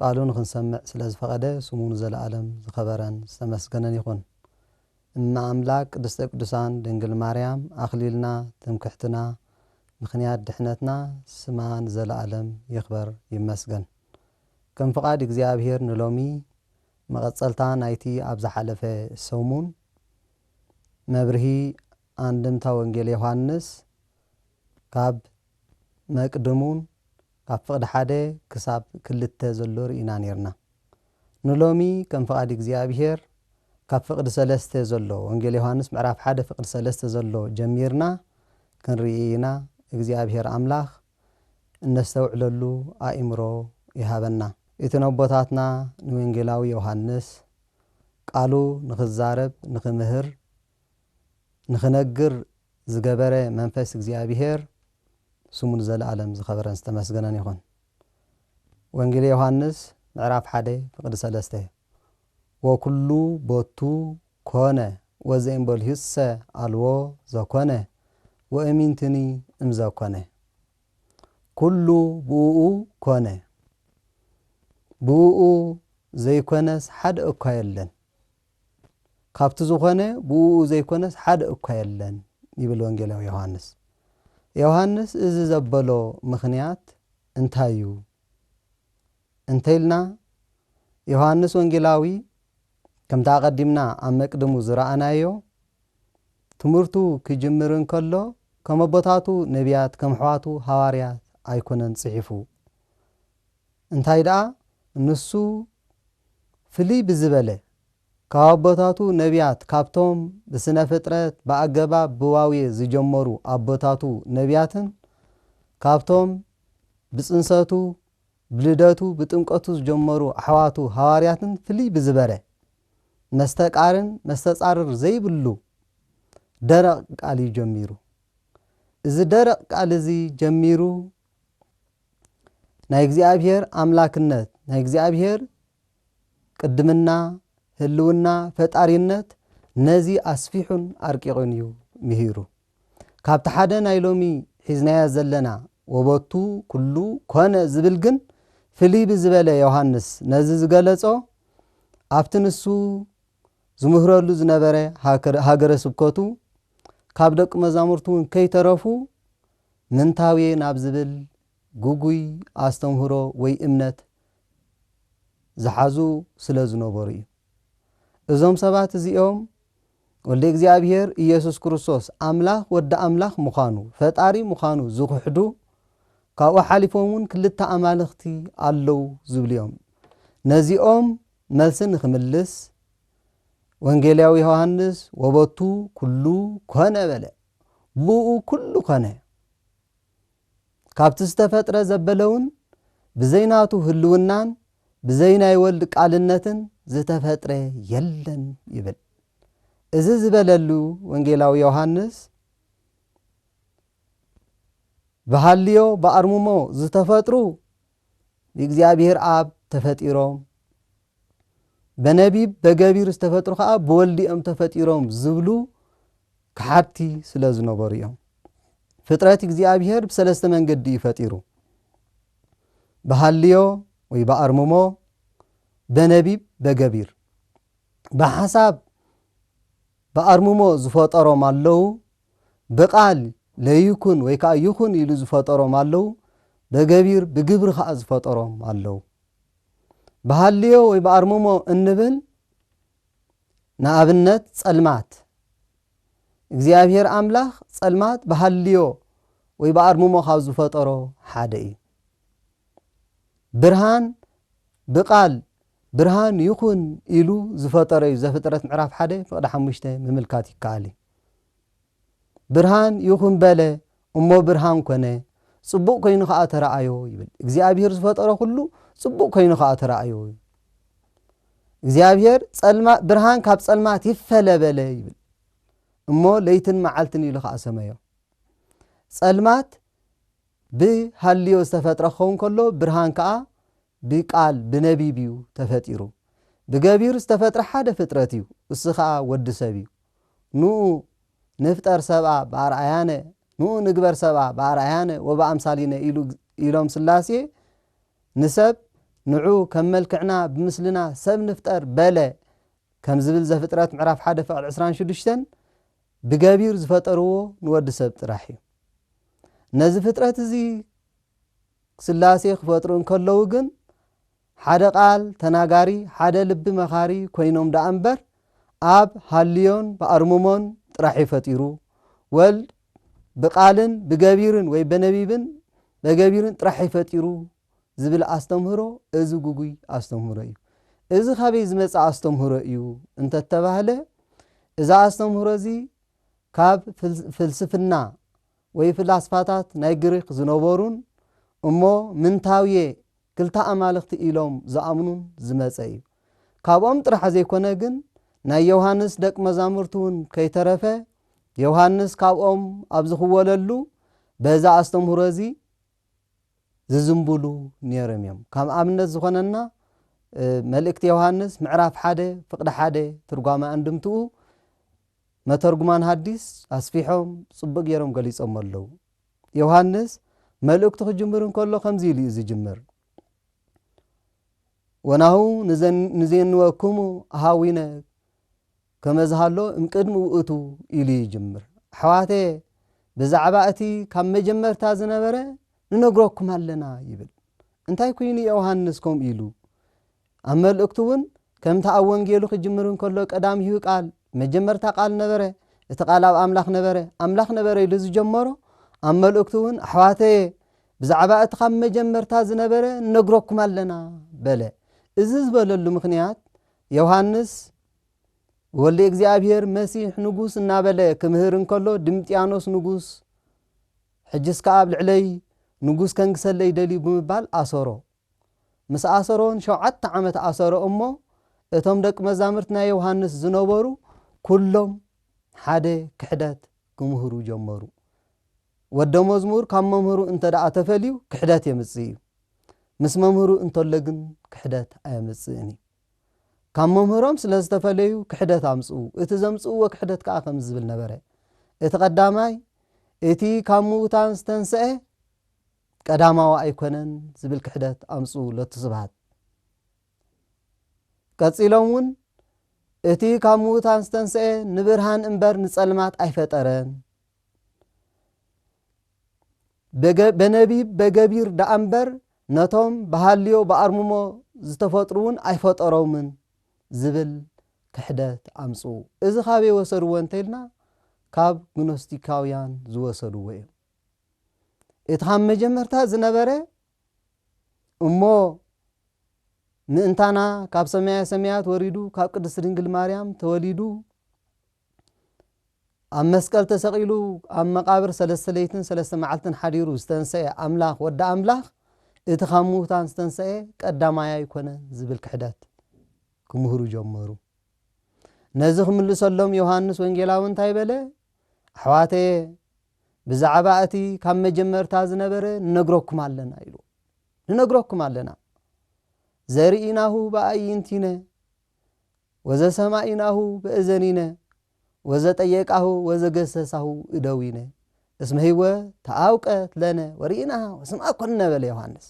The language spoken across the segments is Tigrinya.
ቃሉ ንኽንሰምዕ ስለ ዝፈቐደ ስሙ ንዘለኣለም ዝኸበረን ዝተመስገነን ይኹን። እመ ኣምላክ ቅድስተ ቅዱሳን ድንግል ማርያም ኣኽሊልና ትምክሕትና ምኽንያት ድሕነትና ስማ ንዘለኣለም ይኽበር ይመስገን። ከም ፍቓድ እግዚኣብሔር ንሎሚ መቐጸልታ ናይቲ ኣብ ዝሓለፈ ሰሙን መብርሂ ኣንድምታ ወንጌል ዮሓንስ ካብ ናይ ቅድም ውን ኣብ ፍቅዲ ሓደ ክሳብ ክልተ ዘሎ ርኢና ኔርና ንሎሚ ከም ፍቃድ እግዚኣብሄር ካብ ፍቅዲ ሰለስተ ዘሎ ወንጌል ዮሃንስ ምዕራፍ ሓደ ፍቅዲ ሰለስተ ዘሎ ጀሚርና ክንርኢ ኢና እግዚኣብሄር ኣምላክ እነስተውዕለሉ ኣኢምሮ ይሃበና ኢቲ ነቦታትና ንወንጌላዊ ዮሃንስ ቃሉ ንክዛረብ ንክምህር ንኽነግር ዝገበረ መንፈስ እግዚኣብሄር ስሙ ንዘለኣለም ዝኸበረን ዝተመስገነን ይኹን። ወንጌል ዮሃንስ ምዕራፍ ሓደ ፍቅዲ ሰለስተ ወኩሉ ቦቱ ኮነ ወዘኢምበልሁሰ ኣልቦ ዘኮነ ወእሚንትኒ እምዘኮነ ኩሉ ብእኡ ኮነ ብእኡ ዘይኮነስ ሓደ እኳ የለን። ካብቲ ዝኾነ ብእኡ ዘይኮነስ ሓደ እኳ የለን ይብል ወንጌላዊ ዮሃንስ። ዮሃንስ እዚ ዘበሎ ምኽንያት እንታይ እዩ እንተይልና ዮሃንስ ወንጌላዊ ከምቲ ኣቐዲምና ኣብ መቅድሙ ዝረኣናዮ ትምህርቱ ክጅምር እንከሎ ከም ኣቦታቱ ነቢያት ከም ኣሕዋቱ ሃዋርያት ኣይኮነን ጽሒፉ እንታይ ደኣ ንሱ ፍልይ ብዝበለ ካብ ኣቦታቱ ነብያት ካብቶም ብስነ ፍጥረት ብኣገባብ ብዋውየ ዝጀመሩ ኣቦታቱ ነብያትን ካብቶም ብጽንሰቱ ብልደቱ ብጥምቀቱ ዝጀመሩ ኣሕዋቱ ሃዋርያትን ፍልይ ብዝበረ መስተቃርን መስተጻርር ዘይብሉ ደረቅ ቃል እዩ ጀሚሩ እዚ ደረቅ ቃል እዚ ጀሚሩ ናይ እግዚኣብሔር ኣምላክነት ናይ እግዚኣብሔር ቅድምና ህልውና ፈጣሪነት ነዚ ኣስፊሑን ኣርቂቑን እዩ ምሂሩ ካብቲ ሓደ ናይ ሎሚ ሒዝናዮ ዘለና ወበቱ ኩሉ ኮነ ዝብል ግን ፍልይ ብዝበለ ዮሃንስ ነዚ ዝገለጾ ኣብቲ ንሱ ዝምህረሉ ዝነበረ ሃገረ ስብከቱ ካብ ደቂ መዛሙርቱ እውን ከይተረፉ ምንታው'የ ናብ ዝብል ግጉይ ኣስተምህሮ ወይ እምነት ዝሓዙ ስለ ዝነበሩ'ዩ። እዞም ሰባት እዚኦም ወልደ እግዚኣብሔር ኢየሱስ ክርስቶስ ኣምላኽ ወዲ ኣምላኽ ምዃኑ፣ ፈጣሪ ምዃኑ ዝኽሕዱ ካብኡ ሓሊፎም'ውን ክልተ ኣማልኽቲ ኣለው ዝብሉ'ዮም። ነዚኦም መልሲ ንክምልስ ወንጌላዊ ዮሐንስ ወበቱ ኩሉ ኮነ በለ። ብእኡ ኩሉ ኮነ። ካብቲ ዝተፈጥረ ዘበለውን ብዘይ ናቱ ህልውናን ብዘይ ናይ ወልድ ቃልነትን ዝተፈጥረ የለን ይብል። እዚ ዝበለሉ ወንጌላዊ ዮሃንስ ብሃልዮ ብኣርምሞ ዝተፈጥሩ ብእግዚኣብሔር ኣብ ተፈጢሮም በነቢብ በገቢር ዝተፈጥሩ ከዓ ብወልድ እዮም ተፈጢሮም ዝብሉ ከሓድቲ ስለ ዝነበሩ እዮም። ፍጥረት እግዚኣብሔር ብሰለስተ መንገዲ እዩ ፈጢሩ። ብሃልዮ ወይ ብኣርምሞ፣ በነቢብ፣ በገቢር። ብሓሳብ ብኣርምሞ ዝፈጠሮም ኣለዉ፣ ብቃል ለይኩን ወይ ከኣ ይኹን ኢሉ ዝፈጠሮም ኣለዉ፣ በገቢር ብግብሪ ከኣ ዝፈጠሮም ኣለዉ። ብሃልዮ ወይ ብኣርምሞ እንብል ንኣብነት ጸልማት እግዚኣብሔር ኣምላኽ ጸልማት ብሃልዮ ወይ ብኣርምሞ ካብ ዝፈጠሮ ሓደ እዩ። ብርሃን ብቃል ብርሃን ይኹን ኢሉ ዝፈጠሮ እዩ ዘፍጥረት ምዕራፍ ሓደ ፍቅዲ ሓሙሽተ ምምልካት ይከኣል እዩ። ብርሃን ይኹን በለ እሞ ብርሃን ኮነ፣ ጽቡቕ ኮይኑ ኸኣ ተረኣዮ ይብል። እግዚኣብሄር ዝፈጠሮ ዅሉ ጽቡቕ ኮይኑ ኸኣ ተረኣዮ። እግዚኣብሄር ጸልማ ብርሃን ካብ ጸልማት ይፈለ በለ ይብል። እሞ ለይትን መዓልትን ኢሉ ኸኣ ሰመዮ። ጸልማት ብሃልዮ ዝተፈጥረ ክኸውን ከሎ ብርሃን ከኣ ብቃል ብነቢብ እዩ ተፈጢሩ። ብገቢር ዝተፈጥረ ሓደ ፍጥረት እዩ እሱ ከኣ ወዲ ሰብ እዩ። ኑኡ ንፍጠር ሰብኣ ብኣርኣያነ ኑኡ ንግበር ሰብኣ ብኣርኣያነ ወብኣምሳሊነ ኢሉ ኢሎም ስላሴ ንሰብ ንዑ ከም መልክዕና ብምስልና ሰብ ንፍጠር በለ ከም ዝብል ዘፍጥረት ምዕራፍ ሓደ ፍቅድ ዕስራን ሽዱሽተን ብገቢር ዝፈጠርዎ ንወዲ ሰብ ጥራሕ እዩ። ነዚ ፍጥረት እዚ ስላሴ ክፈጥሩ እንከለዉ ግን ሓደ ቃል ተናጋሪ ሓደ ልቢ መኻሪ ኮይኖም ደኣ እምበር ኣብ ሃልዮን ብኣርምሞን ጥራሕ'ዩ ፈጢሩ። ወልድ ብቃልን ብገቢርን ወይ በነቢብን በገቢርን ጥራሕ'ዩ ፈጢሩ ዝብል ኣስተምህሮ እዚ ጉጉይ ኣስተምህሮ'ዩ። እዚ ካበይ ዝመጸ ኣስተምህሮ'ዩ እንተተባህለ እዚ ኣስተምህሮ'ዚ ካብ ፍልስፍና ወይ ፍላስፋታት ናይ ግሪኽ ዝነበሩን እሞ ምንታውየ ክልተ ኣማልኽቲ ኢሎም ዝኣምኑን ዝመጸ እዩ። ካብኦም ጥራሕ ዘይኮነ ግን ናይ ዮውሃንስ ደቅ መዛሙርቲውን ከይተረፈ ዮውሃንስ ካብኦም ኣብ ዝኽወለሉ በዚ ኣስተምህሮ እዚ ዝዝንብሉ ኔርም እዮም። ከም ኣብነት ዝኾነና መልእክቲ ዮውሃንስ ምዕራፍ ሓደ ፍቅዲ ሓደ ትርጓመ ኣንድምትኡ፣ መተርጉማን ሃዲስ ኣስፊሖም ጽቡቕ ገይሮም ገሊጾሞ ኣለዉ። ዮሃንስ መልእክቱ ክጅምር እንከሎ ከምዚ ኢሉ እዩ ዝጅምር፣ ወናሁ ንዜንወክሙ ኣኀዊነ ከመ ዝሃሎ እምቅድሚ ውእቱ ኢሉ ይጅምር። ኣሕዋተየ ብዛዕባ እቲ ካብ መጀመርታ ዝነበረ ንነግረኩም ኣለና ይብል። እንታይ ኩይኑ ዮሃንስ ከምኡ ኢሉ? ኣብ መልእክቱ እውን ከምቲ ኣብ ወንጌሉ ክጅምር እንከሎ ቀዳሚሁ ቃል፣ መጀመርታ ቃል ነበረ፣ እቲ ቃል ኣብ ኣምላኽ ነበረ፣ ኣምላኽ ነበረ ኢሉ ዝጀመሮ፣ ኣብ መልእክቱ እውን ኣሕዋተየ ብዛዕባ እቲ ካብ መጀመርታ ዝነበረ ንነግረኩም ኣለና በለ። እዚ ዝበለሉ ምኽንያት ዮሃንስ ወልደ እግዚኣብሔር መሲሕ ንጉስ እናበለ ክምህር እንከሎ ድምጥያኖስ ንጉስ ሕጅስ ከኣ ኣብ ልዕለይ ንጉስ ከንግሰለይ ደልዩ ብምባል ኣሰሮ። ምስ ኣሰሮ ን ሸውዓተ ዓመት ኣሰሮ እሞ እቶም ደቂ መዛምርት ናይ ዮውሃንስ ዝነበሩ ኩሎም ሓደ ክሕደት ክምህሩ ጀመሩ ወደ መዝሙር ካብ መምህሩ እንተ ተፈልዩ ክሕደት የምጽእ እዩ ምስ መምህሩ እንተሎ ግን ክሕደት ኣየምጽእን እዩ ካብ መምህሮም ስለ ዝተፈለዩ ክሕደት ኣምጽኡ እቲ ዘምጽእዎ ክሕደት ከኣ ከም ዝብል ነበረ እቲ ቀዳማይ እቲ ካብ ምዉታን ዝተንስአ ቀዳማዋ ኣይኮነን ዝብል ክሕደት ኣምጽኡ ለቱ ስብሃት። ቀጺሎም እውን እቲ ካብ ምዉታን ዝተንስኤ ንብርሃን እምበር ንጸልማት ኣይፈጠረን፣ በነቢብ በገቢር ደኣ እምበር ነቶም ብሃልዮ ብኣርምሞ ዝተፈጥሩ እውን ኣይፈጠሮምን ዝብል ክሕደት ኣምጽኡ። እዚ ካበይ ወሰድዎ እንተኢልና ካብ ግኖስቲካውያን ዝወሰድዎ እዩ። እቲ ኻብ መጀመርታ ዝነበረ እሞ ምእንታና ካብ ሰማያ ሰማያት ወሪዱ ካብ ቅድስት ድንግል ማርያም ተወሊዱ ኣብ መስቀል ተሰቒሉ ኣብ መቓብር ሰለስተ ለይትን ሰለስተ መዓልትን ሓዲሩ ዝተንስአ ኣምላኽ ወዲ ኣምላኽ እቲ ካብ ምዉታን ዝተንስአ ቀዳማይ ኣይኮነን ዝብል ክሕደት ክምህሩ ጀመሩ ነዚ ክምልሰሎም ዮሃንስ ወንጌላዊ እንታይ በለ ኣሕዋተየ ብዛዕባ እቲ ካብ መጀመርታ ዝነበረ ንነግረኩም ኣለና ኢሉ ንነግረኩም ኣለና ዘርኢናሁ ብኣይንቲነ ወዘሰማኢናሁ ብእዘኒነ ወዘጠየቃሁ ወዘገሰሳሁ እደዊነ እስመ ህይወ ተኣውቀት ለነ ወርኢናሃ ወስምኣ ኮነ በለ ዮሃንስ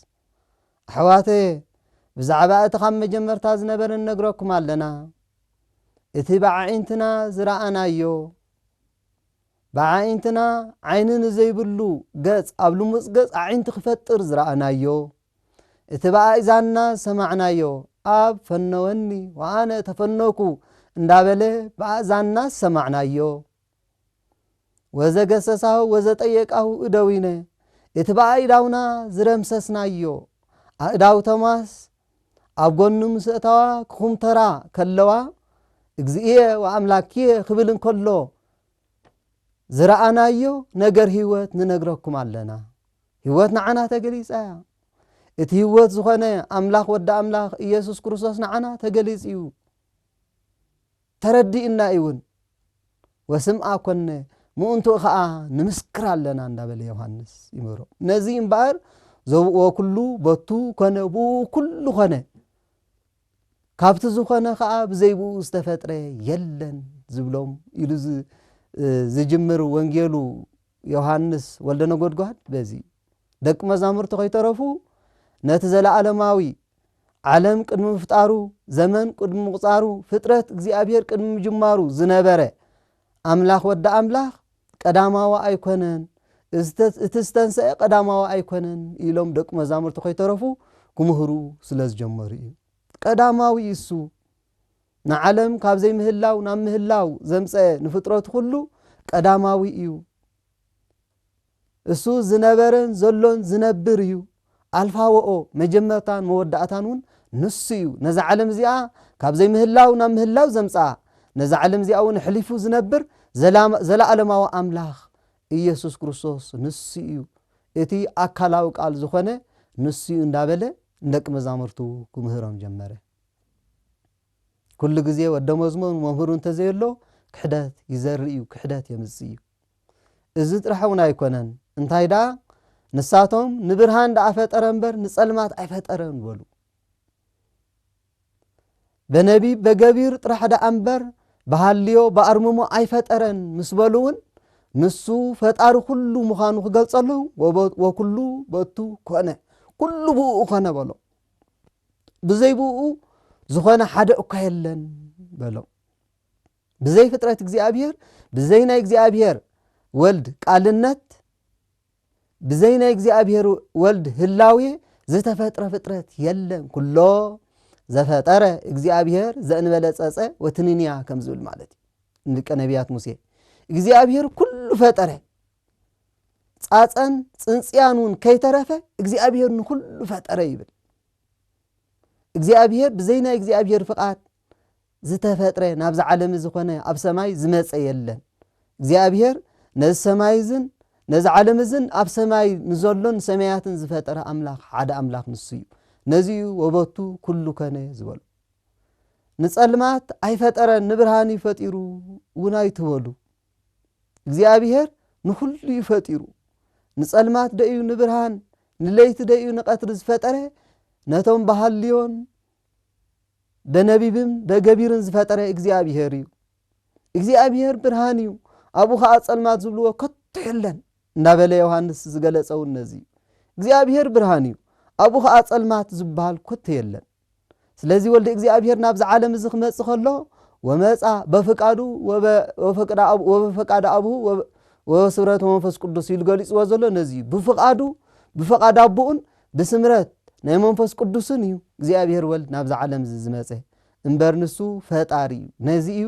ኣሕዋተ ብዛዕባ እቲ ካብ መጀመርታ ዝነበረ ንነግረኩም ኣለና እቲ ብዓዒንትና ዝረኣናዮ ብኣዒንትና ዓይኒ ንዘይብሉ ገጽ ኣብ ልሙጽ ገጽ ኣዒንቲ ክፈጥር ዝረኣናዮ፣ እቲ ብኣእዛንና ዝሰማዕናዮ ኣብ ፈነወኒ ወኣነ ተፈነውኩ እንዳበለ ብኣእዛንና ዝሰማዕናዮ፣ ወዘገሰሳሁ ወዘጠየቃሁ እደዊነ እቲ ብኣእዳውና ዝደምሰስናዮ፣ ኣእዳው ቶማስ ኣብ ጎኑ ምስ እተዋ ክኹምተራ ከለዋ፣ እግዚእየ ወኣምላክየ ክብል እንከሎ ዝረኣናዮ ነገር ህይወት ንነግረኩም ኣለና ህይወት ንዓና ተገሊጻ እያ እቲ ህይወት ዝኾነ ኣምላኽ ወዲ ኣምላኽ ኢየሱስ ክርስቶስ ንዓና ተገሊጽ እዩ ተረዲእና እውን ወስምኣ ኮነ ምእንትኡ ከዓ ንምስክር ኣለና እንዳበለ ዮሃንስ ይምህሮ ነዚ እምበኣር ዘብእዎ ኩሉ በቱ ኮነ ብኡ ኩሉ ኮነ ካብቲ ዝኾነ ከኣ ብዘይብኡ ዝተፈጥረ የለን ዝብሎም ኢሉ ዝጅምር ወንጌሉ ዮሃንስ ወልደነጎድጓድ በዚ እዩ። ደቂ መዛሙርቱ ከይተረፉ ነቲ ዘለዓለማዊ ዓለም ቅድሚ ምፍጣሩ፣ ዘመን ቅድሚ ምቑጻሩ፣ ፍጥረት እግዚኣብሔር ቅድሚ ምጅማሩ ዝነበረ ኣምላኽ ወዲ ኣምላኽ ቀዳማዊ ኣይኮነን፣ እቲ ዝተንሰኤ ቀዳማዊ ኣይኮነን ኢሎም ደቂ መዛሙርቱ ከይተረፉ ክምህሩ ስለ ዝጀመሩ እዩ። ቀዳማዊ እሱ ንዓለም ካብ ዘይምህላው ናብ ምህላው ዘምጸኤ ንፍጥረቱ ኩሉ ቀዳማዊ እዩ። እሱ ዝነበረን ዘሎን ዝነብር እዩ፣ ኣልፋ ወኦ፣ መጀመርታን መወዳእታን እውን ንሱ እዩ፣ ነዛ ዓለም እዚኣ ካብ ዘይምህላው ናብ ምህላው ዘምጽኣ፣ ነዛ ዓለም እዚኣ እውን ኣሕሊፉ ዝነብር ዘለኣለማዊ ኣምላኽ ኢየሱስ ክርስቶስ ንሱ እዩ፣ እቲ ኣካላዊ ቃል ዝኾነ ንሱ እዩ እንዳበለ ንደቂ መዛሙርቱ ክምህሮም ጀመረ። ኩሉ ግዜ ወደ መዝሙር መምህሩ እንተዘየሎ ክሕደት ይዘርእ እዩ፣ ክሕደት የምጽእ እዩ። እዚ ጥራሕ እውን ኣይኮነን፣ እንታይ ደኣ ንሳቶም ንብርሃን ደኣ ፈጠረ እምበር ንጸልማት ኣይፈጠረን በሉ። በነቢብ በገቢር ጥራሕ ደኣ እምበር ብሃልዮ ብኣርምሞ ኣይፈጠረን ምስ በሉ እውን ንሱ ፈጣሪ ኩሉ ምዃኑ ክገልጸሉ ወኩሉ በቱ ኮነ ኩሉ ብኡ ኮነ በሎ ብዘይ ብኡ ዝኾነ ሓደ እኳ የለን በሎም ብዘይ ፍጥረት እግዚኣብሔር ብዘይ ናይ እግዚኣብሔር ወልድ ቃልነት ብዘይ ናይ እግዚኣብሔር ወልድ ህላዌ ዝተፈጥረ ፍጥረት የለን ኩሎ ዘፈጠረ እግዚኣብሔር ዘእንበለ ጸጸ ወትንንያ ከም ዝብል ማለት እዩ ንደቂ ነቢያት ሙሴ እግዚኣብሔር ኩሉ ፈጠረ ጻጸን ጽንጽያን እውን ከይተረፈ እግዚኣብሔር ንኩሉ ፈጠረ ይብል እግዚኣብሔር ብዘይ ናይ እግዚኣብሔር ፍቓድ ዝተፈጥረ ናብዚ ዓለም እዚ ኮነ ኣብ ሰማይ ዝመፀ የለን እግዚኣብሔር ነዚ ሰማይ እዝን ነዚ ዓለም እዝን ኣብ ሰማይ ንዘሎን ሰማያትን ዝፈጠረ ኣምላኽ ሓደ ኣምላኽ ንሱ እዩ ነዚዩ ወበቱ ኩሉ ከነ ዝበሉ ንፀልማት ኣይፈጠረን ንብርሃን እዩ ፈጢሩ እውን ኣይትበሉ እግዚኣብሔር ንኩሉ እዩ ፈጢሩ ንፀልማት ደእዩ ንብርሃን ንለይቲ ደእዩ ንቀትሪ ዝፈጠረ ነቶም ባህልዮን በነቢብም በገቢርን ዝፈጠረ እግዚኣብሄር እዩ። እግዚኣብሄር ብርሃን እዩ፣ ኣብኡ ኸኣ ጸልማት ዝብልዎ ከቶ የለን እንዳበለ ዮሃንስ ዝገለጸ እውን ነዚ እዩ። እግዚኣብሄር ብርሃን እዩ፣ ኣብኡ ኸኣ ጸልማት ዝበሃል ከቶ የለን። ስለዚ ወልደ እግዚኣብሄር ናብዚ ዓለም እዚ ክመጽእ ከሎ ወመጽኣ በፍቃዱ ወበፈቃደ ኣብሁ ወበስብረተ መንፈስ ቅዱስ ኢሉ ገሊጽዎ ዘሎ ነዚ እዩ። ብፍቃዱ ብፍቃድ ኣቦኡን ብስምረት ናይ መንፈስ ቅዱስን እዩ እግዚኣብሔር ወልድ ናብዚ ዓለም እዚ ዝመጸ እምበር ንሱ ፈጣሪ እዩ ነዚ እዩ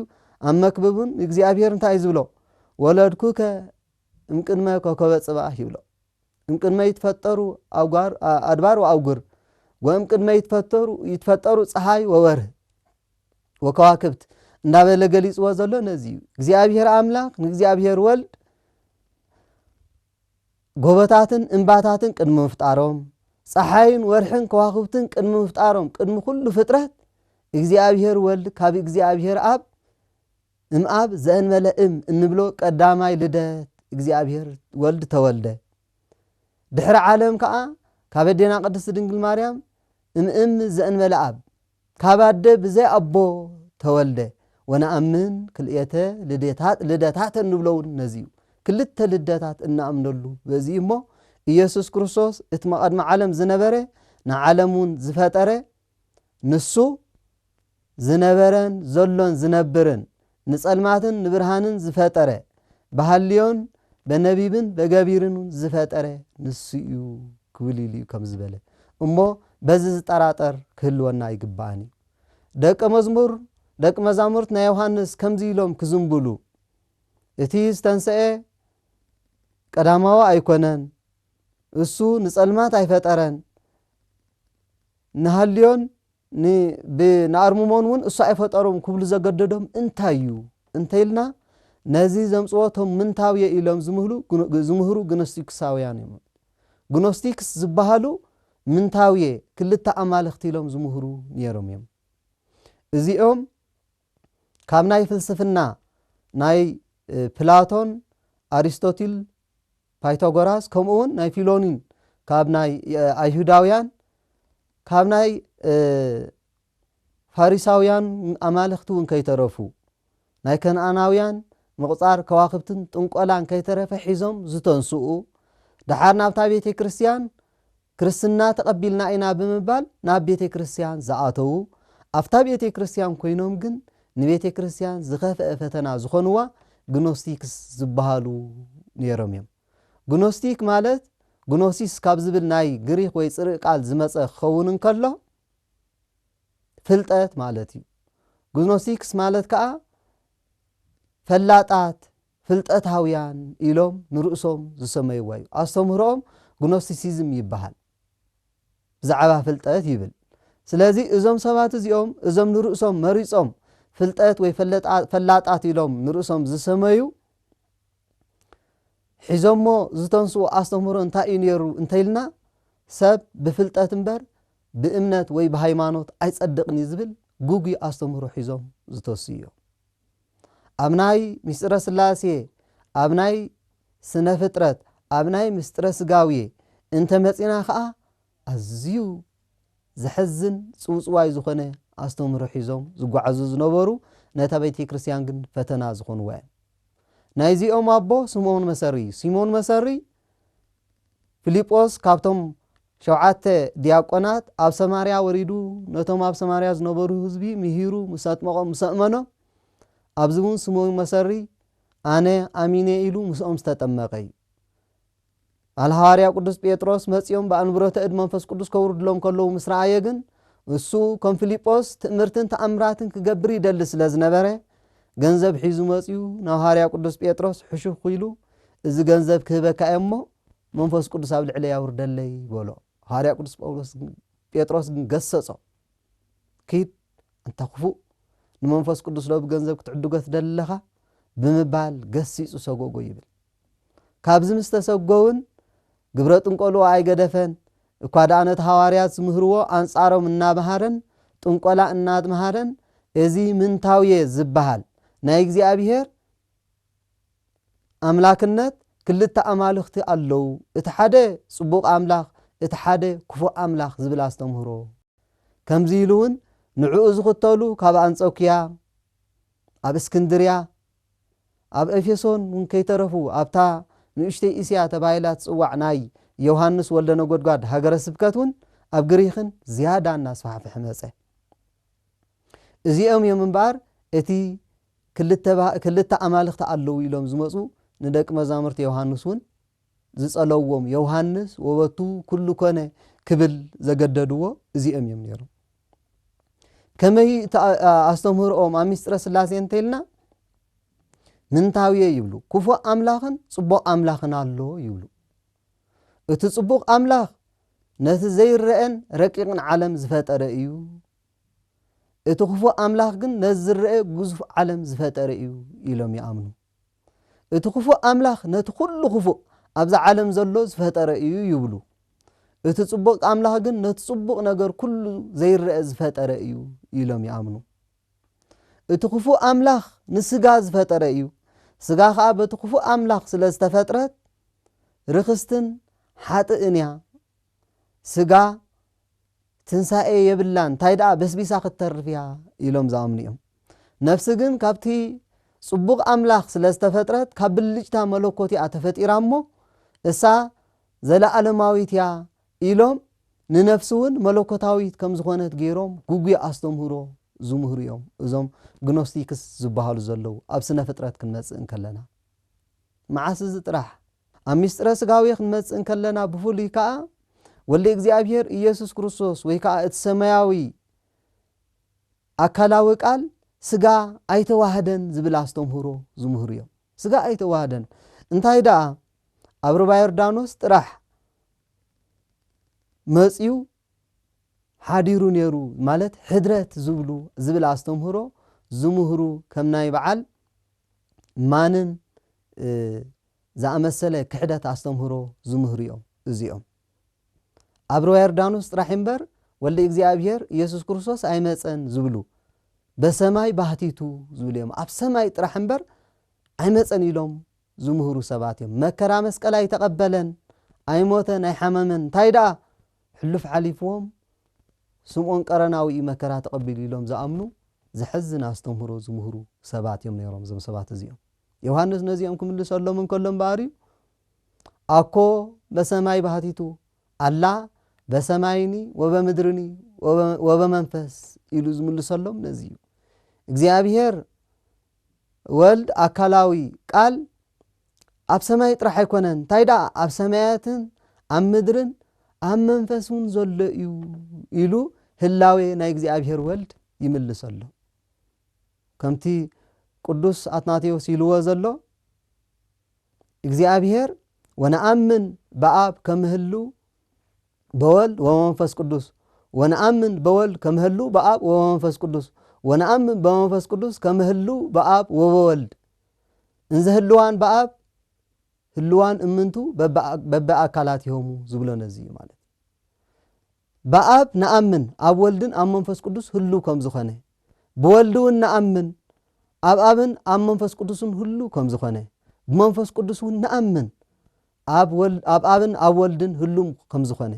ኣብ መክብብን እግዚኣብሔር እንታይ ዝብሎ ወለድኩከ እምቅድመ ኮከበ ጽባህ ይብሎ እምቅድመ ይትፈጠሩ ኣድባር ወኣውጉር ወእምቅድመ ይትፈጠሩ ይትፈጠሩ ፀሓይ ወወርህ ወከዋክብት እንዳበለ ገሊጽዎ ዘሎ ነዚ እዩ እግዚኣብሔር ኣምላኽ ንእግዚኣብሔር ወልድ ጎቦታትን እምባታትን ቅድሚ ምፍጣሮም፣ ጸሓይን ወርሕን ከዋኽብትን ቅድሚ ምፍጣሮም፣ ቅድሚ ኩሉ ፍጥረት፣ እግዚኣብሔር ወልድ ካብ እግዚኣብሔር ኣብ፣ እምኣብ ዘእንበለ እም እንብሎ ቀዳማይ ልደት እግዚኣብሔር ወልድ ተወልደ። ድሕሪ ዓለም ከኣ ካብ ኣዴና ቅድስት ድንግል ማርያም እምእም ዘእንበለ ኣብ፣ ካብ ኣደ ብዘይ ኣቦ ተወልደ ወነኣምን ክልኤተ ልዴታት ልደታት እንብሎውን ነዚ እዩ። ክልተ ልደታት እንኣምነሉ በዚ እዩ እሞ ኢየሱስ ክርስቶስ እቲ መቐድሚ ዓለም ዝነበረ ንዓለም እውን ዝፈጠረ ንሱ ዝነበረን ዘሎን ዝነብርን ንጸልማትን ንብርሃንን ዝፈጠረ፣ ብሃልዮን በነቢብን በገቢርን ውን ዝፈጠረ ንሱ እዩ ክብል ኢሉ እዩ ከም ዝበለ እሞ በዚ ዝጠራጠር ክህልወና ኣይግባእን እዩ። ደቀ መዝሙር ደቂ መዛሙርት ናይ ዮሃንስ ከምዚ ኢሎም ክዝንብሉ እቲ ዝተንሰኤ ቀዳማዊ ኣይኮነን እሱ ንጸልማት ኣይፈጠረን ንሃልዮን ን ብንኣርምሞን ውን እሱ ኣይፈጠሮም ክብሉ ዘገደዶም እንታይ እዩ እንተይልና ነዚ ዘምጽዎ እቶም ምንታውየ ኢሎም ዝምህሉ ዝምህሩ ግኖስቲክሳውያን እዮም። ግኖስቲክስ ዝበሃሉ ምንታውየ ክልተ ኣማልኽቲ ኢሎም ዝምህሩ ኔሮም እዮም። እዚኦም ካብ ናይ ፍልስፍና ናይ ፕላቶን፣ ኣሪስቶትል፣ ፓይታጎራስ ከምኡ ውን ናይ ፊሎኒን ካብ ናይ ኣይሁዳውያን ካብ ናይ ፋሪሳውያን ኣማልኽቲ እውን ከይተረፉ ናይ ከነኣናውያን ምቕፃር ከዋኽብትን ጥንቆላን ከይተረፈ ሒዞም ዝተንስኡ ደሓር ናብታ ቤተ ክርስትያን ክርስትና ተቐቢልና ኢና ብምባል ናብ ቤተ ክርስቲያን ዝኣተዉ፣ ኣብታ ቤተ ክርስቲያን ኮይኖም ግን ንቤተ ክርስቲያን ዝኸፍኣ ፈተና ዝኾንዋ ግኖስቲክስ ዝበሃሉ ነይሮም እዮም። ግኖስቲክ ማለት ግኖሲስ ካብ ዝብል ናይ ግሪኽ ወይ ጽርእ ቃል ዝመጸ ክኸውን እንከሎ ፍልጠት ማለት እዩ። ግኖስቲክስ ማለት ከኣ ፈላጣት ፍልጠታውያን ኢሎም ንርእሶም ዝሰመይዋ እዩ። ኣስተምህሮኦም ግኖስቲሲዝም ይበሃል። ብዛዕባ ፍልጠት ይብል። ስለዚ እዞም ሰባት እዚኦም እዞም ንርእሶም መሪጾም ፍልጠት ወይ ፈላጣት ኢሎም ንርእሶም ዝሰመዩ ሒዞሞ ዝተንስኡ ኣስተምህሮ እንታይ እዩ ነይሩ እንተይልና ሰብ ብፍልጠት እምበር ብእምነት ወይ ብሃይማኖት ኣይጸድቕን እዩ ዝብል ጉጉይ ኣስተምህሮ ሒዞም ዝተሱ እዮም። ኣብ ናይ ምስጢረ ሥላሴ ኣብ ናይ ስነ ፍጥረት ኣብ ናይ ምስጢረ ሥጋዌ እንተ መጺእና ከኣ ኣዝዩ ዘሕዝን ጽውጽዋይ ዝኾነ ኣስተምህሮ ሒዞም ዝጓዓዙ ዝነበሩ ነታ ቤተ ክርስቲያን ግን ፈተና ዝኾንዋ እዮም። ናይዚኦም ኣቦ ስምኦን መሰሪ እዩ። ስምኦን መሰሪ ፊልጶስ ካብቶም ሸውዓተ ድያቆናት ኣብ ሰማርያ ወሪዱ ነቶም ኣብ ሰማርያ ዝነበሩ ህዝቢ ምሂሩ ምስ ኣጥመቖም ምስ ኣእመኖም ኣብዚ እውን ስምኦን መሰሪ ኣነ ኣሚነ ኢሉ ምስኦም ዝተጠመቐ እዩ። ኣል ሃዋርያ ቅዱስ ጴጥሮስ መጺኦም ብኣንብሮተ እድ መንፈስ ቅዱስ ከውርድሎም ከለዉ ምስ ረኣየ ግን እሱ ከም ፊልጶስ ትእምርትን ተኣምራትን ክገብር ይደሊ ስለ ዝነበረ ገንዘብ ሒዙ መጺኡ ናብ ሃዋርያ ቅዱስ ጴጥሮስ ሕሹኽ ኢሉ እዚ ገንዘብ ክህበካ እየ እሞ መንፈስ ቅዱስ ኣብ ልዕለይ ኣውርደለይ በሎ። ሃዋርያ ቅዱስ ጳውሎስ ግን ጴጥሮስ ግን ገሰጾ ኪድ ኣንታ ክፉእ ንመንፈስ ቅዱስ ዶ ብገንዘብ ክትዕድጎ ትደለኻ ብምባል ገሲጹ ሰጎጎ ይብል። ካብዚ ምስ ተሰጎውን ግብረ ጥንቆልኡ ኣይገደፈን እኳ ደኣ ነቲ ሃዋርያት ዝምህርዎ ኣንጻሮም እናመሃረን ጥንቆላ እናመሃረን እዚ ምንታውየ ዝበሃል ናይ እግዚኣብሔር ኣምላክነት ክልተ ኣማልኽቲ ኣለው እቲ ሓደ ጽቡቅ ኣምላኽ እቲ ሓደ ክፉእ ኣምላኽ ዝብል ኣስተምህሮ ከምዚ ኢሉ ውን ንዕኡ ዝኽተሉ ካብ ኣንጾክያ ኣብ እስክንድርያ ኣብ ኤፌሶን ውን ከይተረፉ ኣብታ ንእሽተይ እስያ ተባሂላ ትጽዋዕ ናይ ዮሃንስ ወልደነጎድጓድ ሃገረ ስብከት ውን ኣብ ግሪኽን ዝያዳ እናስፋሕፍሐ መጸ እዚኦም እዮም እምበኣር እቲ ክልተ ባህ ክልተ ኣማልኽቲ ኣለዉ ኢሎም ዝመጹ ንደቂ መዛሙርቲ ዮውሃንስ ውን ዝጸለውዎም ዮውሃንስ ወበቱ ኩሉ ኮነ ክብል ዘገደድዎ እዚኦም ኢዮም ነይሮም ከመይ እቲ ኣስተምህርኦም ኣብ ምስጢረ ስላሴ እንተኢልና ምንታውየ ይብሉ ክፉእ ኣምላኽን ጽቡቕ ኣምላኽን ኣሎ ይብሉ እቲ ጽቡቕ ኣምላኽ ነቲ ዘይረአን ረቂቕን ዓለም ዝፈጠረ እዩ እቲ ክፉእ ኣምላኽ ግን ነዚ ዝረኣ ግዙፍ ዓለም ዝፈጠረ እዩ ኢሎም ይኣምኑ። እቲ ክፉእ ኣምላኽ ነቲ ኩሉ ክፉእ ኣብዛ ዓለም ዘሎ ዝፈጠረ እዩ ይብሉ። እቲ ጽቡቕ ኣምላኽ ግን ነቲ ጽቡቕ ነገር ኩሉ ዘይረኣ ዝፈጠረ እዩ ኢሎም ይኣምኑ። እቲ ክፉእ ኣምላኽ ንስጋ ዝፈጠረ እዩ፣ ስጋ ከኣ በቲ ክፉእ ኣምላኽ ስለ ዝተፈጥረት ርኽስትን ሓጥእን እያ። ስጋ ትንሳኤ የብላን ታይ ድኣ በስቢሳ ክትተርፍ እያ ኢሎም ዝኣምኑ እዮም። ነፍሲ ግን ካብቲ ጽቡቕ ኣምላኽ ስለ ዝተፈጥረት ካብ ብልጭታ መለኮት እያ ተፈጢራ እሞ እሳ ዘለኣለማዊት እያ ኢሎም ንነፍሲ እውን መለኮታዊት ከም ዝኾነት ገይሮም ጉጉይ ኣስተምህሮ ዝምህሩ እዮም እዞም ግኖስቲክስ ዝበሃሉ ዘለዉ ኣብ ስነ ፍጥረት ክንመጽእ እንከለና መዓስ እዚ ጥራሕ ኣብ ምስጢረ ሥጋዌ ክንመጽእ እንከለና ብፍሉይ ከኣ ወልደ እግዚኣብሔር ኢየሱስ ክርስቶስ ወይ ከኣ እቲ ሰማያዊ ኣካላዊ ቃል ሥጋ ኣይተዋህደን ዝብል ኣስተምህሮ ዝምህሩ እዮም። ሥጋ ኣይተዋህደን እንታይ ደኣ ኣብ ርባ ዮርዳኖስ ጥራሕ መጽዩ ሓዲሩ ነይሩ ማለት ሕድረት ዝብሉ ዝብል ኣስተምህሮ ዝምህሩ ከም ናይ በዓል ማንን ዝኣመሰለ ክሕደት ኣስተምህሮ ዝምህሩ እዮም እዚኦም ኣብ ርባ ዮርዳኖስ ጥራሕ እምበር ወልድ እግዚኣብሔር ኢየሱስ ክርስቶስ ኣይመፀን ዝብሉ በሰማይ ባህቲቱ ዝብሉ እዮም ኣብ ሰማይ ጥራሕ እምበር ኣይመፀን ኢሎም ዝምህሩ ሰባት እዮም መከራ መስቀል ኣይተቐበለን ኣይሞተን ኣይሓመመን እንታይ ደኣ ሕሉፍ ሓሊፍዎም ስምኦን ቀረናዊ እዩ መከራ ተቐቢሉ ኢሎም ዝኣምኑ ዘሕዝን ኣስተምህሮ ዝምህሩ ሰባት እዮም ነይሮም እዞም ሰባት እዚኦም ዮሃንስ ነዚኦም ክምልሰሎም እንከሎ እምበኣርዩ ኣኮ በሰማይ ባህቲቱ ኣላ በሰማይኒ ወበምድርኒ ወበመንፈስ ኢሉ ዝምልሰሎም ነዚ እዩ እግዚኣብሄር ወልድ ኣካላዊ ቃል ኣብ ሰማይ ጥራሕ ኣይኮነን እንታይ ደኣ ኣብ ሰማያትን ኣብ ምድርን ኣብ መንፈስ እውን ዘሎ እዩ ኢሉ ህላዌ ናይ እግዚኣብሄር ወልድ ይምልሰሎም ከምቲ ቅዱስ ኣትናቴዎስ ኢልዎ ዘሎ እግዚኣብሔር ወነኣምን በኣብ ከምህሉ በወልድ ወመንፈስ ቅዱስ ወነኣምን በወልድ ከምህሉ በኣብ ወመንፈስ ቅዱስ ወነኣምን በመንፈስ ቅዱስ ከምህሉ በኣብ ወበወልድ እንዘ ህልዋን በኣብ ህልዋን እምንቱ በበኣካላት ይሆሙ ዝብሎ ነዚ እዩ ማለት ብኣብ ንኣምን ኣብ ወልድን ኣብ መንፈስ ቅዱስ ህልው ከም ዝኾነ ብወልድውን ንኣምን ኣብ ኣብን ኣብ መንፈስ ቅዱስን ህልው ከም ዝኾነ ብመንፈስ ቅዱስውን ንኣምን ኣብ ኣብን ኣብ ወልድን ህሉም ከም ዝኾነ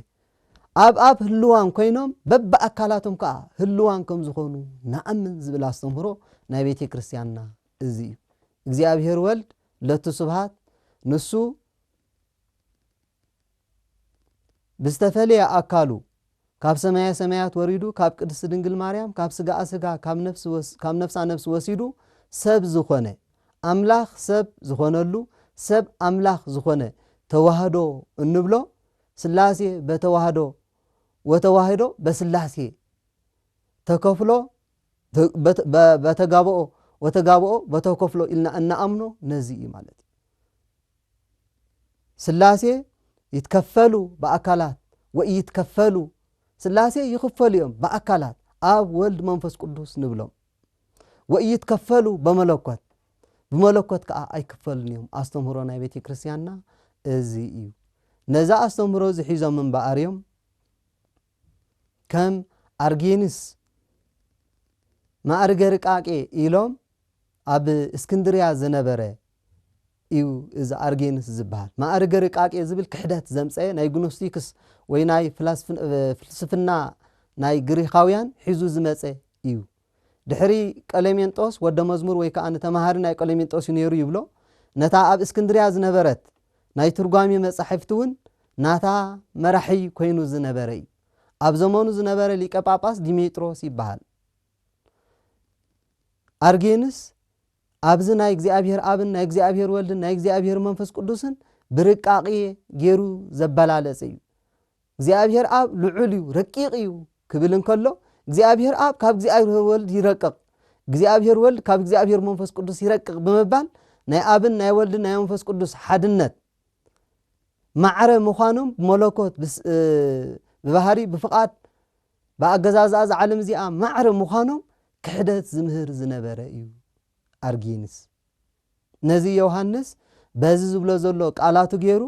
ኣብ ኣብ ህልዋን ኮይኖም በብኣካላቶም ከዓ ህልዋን ከም ዝኾኑ ንኣምን ዝብል ኣስተምህሮ ናይ ቤተ ክርስቲያንና እዚ እዩ እግዚኣብሔር ወልድ ለቱ ስብሃት ንሱ ብዝተፈለየ ኣካሉ ካብ ሰማየ ሰማያት ወሪዱ ካብ ቅድስት ድንግል ማርያም ካብ ስጋኣ ስጋ ካብ ነፍሳ ነፍሲ ወሲዱ ሰብ ዝኾነ ኣምላኽ ሰብ ዝኾነሉ ሰብ ኣምላኽ ዝኾነ ተዋህዶ እንብሎ ስላሴ በተዋህዶ ወተዋህዶ በስላሴ ተከፍሎ በተጋብኦ ወተጋብኦ በተከፍሎ ኢልና እንኣምኖ ነዚ እዩ ማለት እዩ። ስላሴ ይትከፈሉ ብኣካላት ወኢይትከፈሉ ስላሴ ይኽፈሉ እዮም ብኣካላት ኣብ ወልድ መንፈስ ቅዱስ ንብሎም ወኢይትከፈሉ በመለኮት ብመለኮት ከዓ ኣይክፈሉን እዮም ኣስተምህሮ ናይ ቤተ ክርስቲያንና እዚ እዩ ነዛ ኣስተምህሮ እዚ ሒዞም እምበኣር እዮም ከም ኣርጌንስ ማእርገ ርቃቄ ኢሎም ኣብ እስክንድርያ ዝነበረ እዩ እዚ ኣርጌንስ ዝበሃል። ማእርገ ርቃቄ ዝብል ክሕደት ዘምጸኤ ናይ ግኖስቲክስ ወይ ናይ ፍልስፍና ናይ ግሪኻውያን ሒዙ ዝመጸ እዩ። ድሕሪ ቀሌሜንጦስ ወደ መዝሙር ወይ ከኣ ተመሃሪ ናይ ቀሌሜንጦስ እዩ ነይሩ ይብሎ። ነታ ኣብ እስክንድርያ ዝነበረት ናይ ትርጓሜ መጻሕፍቲ እውን ናታ መራሒ ኮይኑ ዝነበረ እዩ። ኣብ ዘመኑ ዝነበረ ሊቀ ጳጳስ ዲሜጥሮስ ይበሃል። ኣርጌንስ ኣብዚ ናይ እግዚኣብሔር ኣብን ናይ እግዚኣብሔር ወልድን ናይ እግዚኣብሔር መንፈስ ቅዱስን ብርቃቅየ ጌሩ ዘበላለጸ እዩ። እግዚኣብሔር ኣብ ልዑል እዩ ረቂቅ እዩ ክብል እንከሎ እግዚኣብሔር ኣብ ካብ እግዚኣብሔር ወልድ ይረቅቕ እግዚኣብሔር ወልድ ካብ እግዚኣብሔር መንፈስ ቅዱስ ይረቅቕ ብምባል ናይ ኣብን ናይ ወልድን ናይ መንፈስ ቅዱስ ሓድነት ማዕረ ምዃኖም መለኮት ብባህሪ ብፍቓድ ብኣገዛዝኣ እዛ ዓለም እዚኣ ማዕረ ምዃኖም ክሕደት ዝምህር ዝነበረ እዩ። ኣርጊንስ ነዚ ዮሃንስ በዚ ዝብሎ ዘሎ ቃላቱ ገይሩ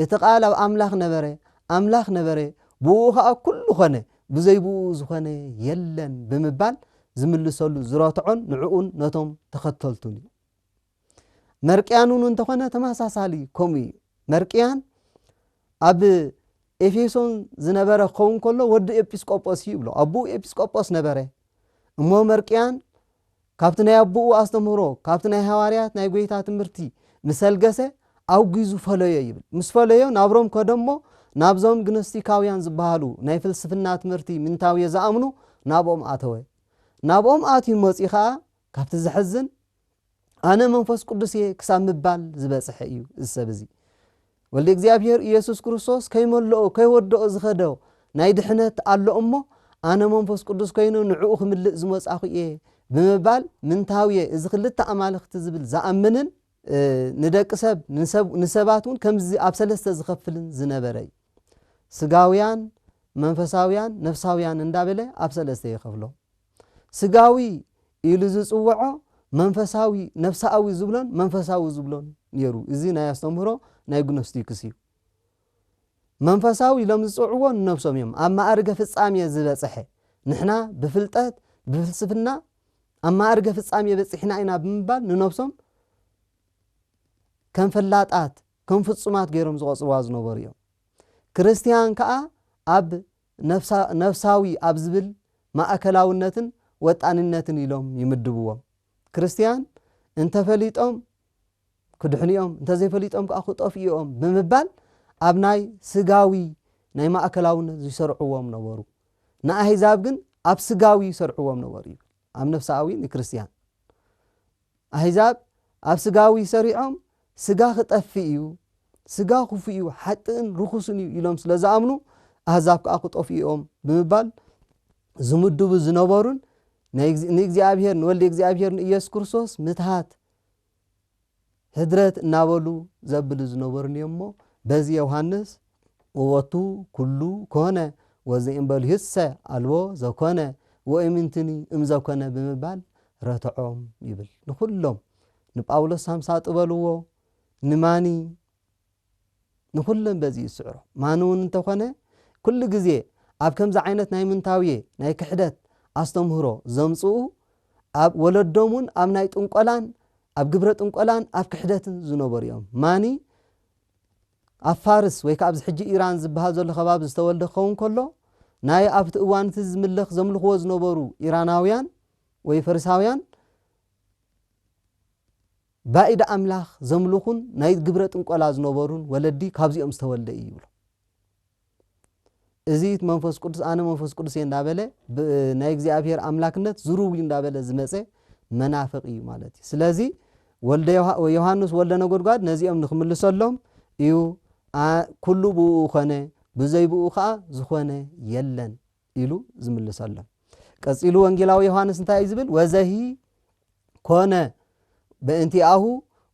እቲ ቃል ኣብ ኣምላኽ ነበረ፣ ኣምላኽ ነበረ፣ ብእኡ ኸኣ ኩሉ ኾነ፣ ብዘይ ብእኡ ዝኾነ የለን ብምባል ዝምልሰሉ ዝረትዖን ንዕኡን ነቶም ተኸተልቱን እዩ። መርቅያን ውን እንተኾነ ተመሳሳሊ ከምኡ እዩ መርቅያን ኣብ ኤፌሶን ዝነበረ ክኸውን ከሎ ወዲ ኤጲስቆጶስ እዩ ይብሎ ኣቦኡ ኤጲስቆጶስ ነበረ እሞ መርቅያን ካብቲ ናይ ኣቦኡ ኣስተምህሮ ካብቲ ናይ ሃዋርያት ናይ ጎይታ ትምህርቲ ምሰልገሰ ኣውጊዙ ፈለዮ ይብል ምስ ፈለዮ ናብ ሮም ከደ እሞ ናብዞም ግኖስቲካውያን ዝበሃሉ ናይ ፍልስፍና ትምህርቲ ምንታውዮ ዝኣምኑ ናብኦም ኣተወ ናብኦም ኣትዩ መፂ ከዓ ካብቲ ዘሕዝን ኣነ መንፈስ ቅዱስ እየ ክሳብ ምባል ዝበጽሐ እዩ እዚ ሰብ እዚ ወልድ እግዚኣብሔር ኢየሱስ ክርስቶስ ከይመልኦ ከይወደኦ ዝኸደ ናይ ድሕነት ኣሎ እሞ ኣነ መንፈስ ቅዱስ ኮይኑ ንዕኡ ክምልእ ዝመጻኹ እየ ብምባል ምንታው እየ እዚ ክልተ ኣማልኽቲ ዝብል ዝኣምንን ንደቂ ሰብ ንሰባት እውን ከምዚ ኣብ ሰለስተ ዝኸፍልን ዝነበረ እዩ ስጋውያን መንፈሳውያን ነፍሳውያን እንዳበለ ኣብ ሰለስተ ይኸፍሎም ስጋዊ ኢሉ ዝጽውዖ መንፈሳዊ ነፍሳኣዊ ዝብሎን መንፈሳዊ ዝብሎን ነይሩ እዚ ናይ ኣስተምህሮ ናይ ግኖስቲክስ እዩ መንፈሳዊ ኢሎም ዝጽውዕዎ ንነብሶም እዮም ኣብ ማእርገ ፍጻሜ ዝበጽሐ ንሕና ብፍልጠት ብፍልስፍና ኣብ ማእርገ ፍጻሜ በጺሕና ኢና ብምባል ንነብሶም ከም ፈላጣት ከም ፍጹማት ገይሮም ዝቆጽርዋ ዝነበሩ እዮም ክርስትያን ከዓ ኣብ ነፍሳዊ ኣብ ዝብል ማእከላውነትን ወጣኒነትን ኢሎም ይምድብዎም። ክርስትያን እንተ ፈሊጦም ክድሕኑ'ዮም እንተ ዘይፈሊጦም ከኣ ክጠፍኡ'ዮም ብምባል ኣብ ናይ ስጋዊ ናይ ማእከላውነት ይሰርዕዎም ነበሩ። ንኣህዛብ ግን ኣብ ስጋዊ ይሰርዕዎም ነበሩ ይብል። ኣብ ነፍሳኣዊ ንክርስትያን ኣህዛብ ኣብ ስጋዊ ሰሪዖም ስጋ ክጠፍእ እዩ ስጋ ክፉእ እዩ ሓጥእን ርኹስን እዩ ኢሎም ስለ ዝኣምኑ ኣህዛብ ከዓ ክጠፍኡ እዮም ብምባል ዝምድቡ ዝነበሩን ንእግዚኣብሄር ንወልዲ እግዚኣብሄር ንኢየሱስ ክርስቶስ ምትሃት ህድረት እናበሉ ዘብሉ ዝነበሩን እዮም እሞ በዚ ዮሃንስ ወወቱ ኩሉ ኮነ ወዘእምበልዩሰ ኣልቦ ዘኮነ ወእምንትኒ እምዘኮነ ብምባል ረትዖም ይብል ንኹሎም ንጳውሎስ ሳምሳጥ በልዎ ንማኒ ንኹለን በዚ ይስዕሮ። ማንውን እንተኾነ ኩሉ ግዜ ኣብ ከምዚ ዓይነት ናይ ምንታውየ ናይ ክሕደት ኣስተምህሮ ዘምጽኡ ኣብ ወለዶም ውን ኣብ ናይ ጥንቆላን ኣብ ግብረ ጥንቆላን ኣብ ክሕደትን ዝነበሩ እዮም። ማኒ ኣብ ፋርስ ወይ ከኣ ኣብዚ ሕጂ ኢራን ዝበሃል ዘሎ ከባቢ ዝተወልደ ክኸውን ከሎ ናይ ኣብቲ እዋን እቲ ዝምለኽ ዘምልኽዎ ዝነበሩ ኢራናውያን ወይ ፈሪሳውያን ባእድ ኣምላኽ ዘምልኹን ናይ ግብረ ጥንቆላ ዝነበሩን ወለዲ ካብዚኦም ዝተወልደ እዩ ይብሉ። እዚ መንፈስ ቅዱስ ኣነ መንፈስ ቅዱስ እየ እንዳበለ ናይ እግዚኣብሔር ኣምላክነት ዝሩው እዩ እንዳበለ ዝመፀ መናፍቅ እዩ ማለት እዩ። ስለዚ ወልደ ዮሃንስ ወልደ ነጎድጓድ ነዚኦም ንክምልሰሎም እዩ ኩሉ ብኡ ኮነ ብዘይ ብኡ ከዓ ዝኾነ የለን ኢሉ ዝምልሰሎም። ቀጺሉ ወንጌላዊ ዮሃንስ እንታይ እዩ ዝብል? ወዘሂ ኮነ በእንቲኣሁ